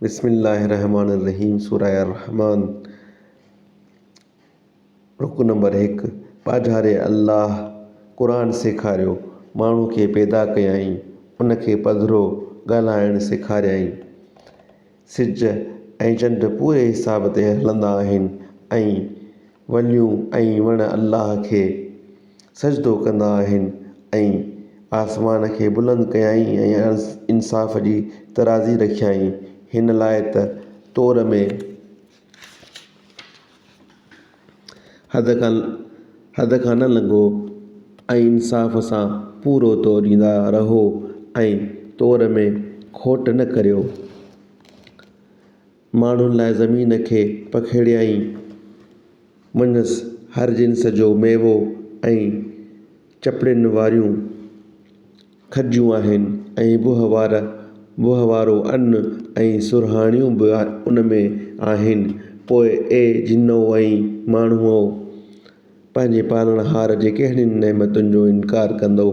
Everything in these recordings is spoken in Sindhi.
بسم الله الرحمٰن الرحيم سوره الرحمان رڪوع نمبر هڪ، پاجاري الله قرآن سيکاريو، ماڻهو کي پيدا ڪيائين، ان کي پڌرو ڳالهائڻ سيکاريائين. سج ۽ چنڊ پوري حساب تي هلندا آهن ۽ وليون ۽ وڻ الله کي سجدو ڪندا آهن ۽ آسمان کي بلند ڪيائين ۽ انصاف جي ترازي رکيائين هن لاء ته طور ۾ حد کان نه لنگهو ۽ انصاف سان پورو توريندا رهو ۽ طور ۾ کوٽ نه ڪريو. ماڻهن لاء زمين کي پکيڙيائين، منجهس هر جنس جو ميوو ۽ چپڙين واريون کجيون آهن ۽ بوهه وار بوهه وارو ان ۽ سرهاڻيون به ان ۾ آهن. پوء اي جنو ۽ ماڻهؤ! پنهنجي پالڻهار جي ڪهڙين نعمتن جو انڪار ڪندؤ؟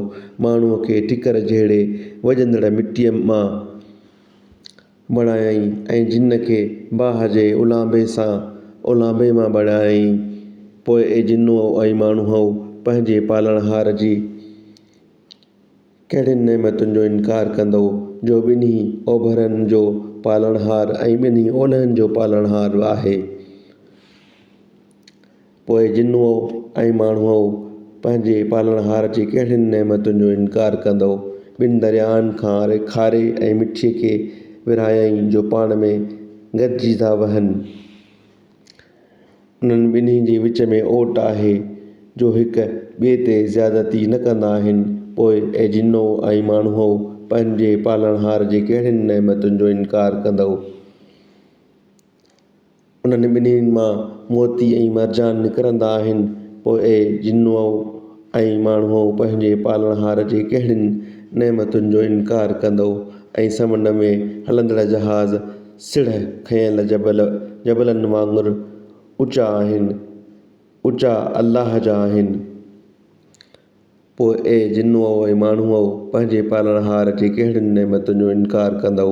ماڻهوء کي ٺڪر جهڙي وڄندڙ مٽيء مان، بڻايائين ۽ جن کي باهه جي اولانبي سان اولانبي مان بڻايائين. پوء اي جنو ۽ ماڻهوء! پنهنجي پالڻهار جي ڪهڙين نعمتن جو انڪار ڪندؤ، جو ٻنهي اوڀرن جو پالڻهار ۽ ٻنهي اولهن جو پالڻهار آهي؟ پوء جن هو ۽ ماڻهو هو پنهنجي پالڻهار جي ڪهڙين نعمتن جو انڪار ڪندؤ؟ ٻن درياهن کان کاري ۽ مٺي کي ورهايائين جو پاڻ ۾ گڏجي ٿا وهن. انهن ٻنهي جي وچ ۾ اوٽ آهي جو هڪ ٻئي تي زيادتي نه ڪندا آهن. پوء اي جنو ۽ ماڻهوء پنهنجي پالڻهار جي ڪهڙين نعمتن جو انڪار ڪندؤ؟ انهن ٻنهي مان موتي ۽ مرجان نڪرندا آهن. پوء اي جنو ۽ ماڻهؤ! پنهنجي پالڻهار جي ڪهڙين نعمتن جو انڪار ڪندؤ ۽ سمنڊ ۾ هلندڙ جهاز سڙهه کنيل جبل جبلن وانگر اوچا آهن، اوچا الله جا آهن. پوء اي جنو ۽ ماڻهؤ! پنهنجي پالڻهار جي ڪهڙين نعمتن جو انڪار ڪندؤ؟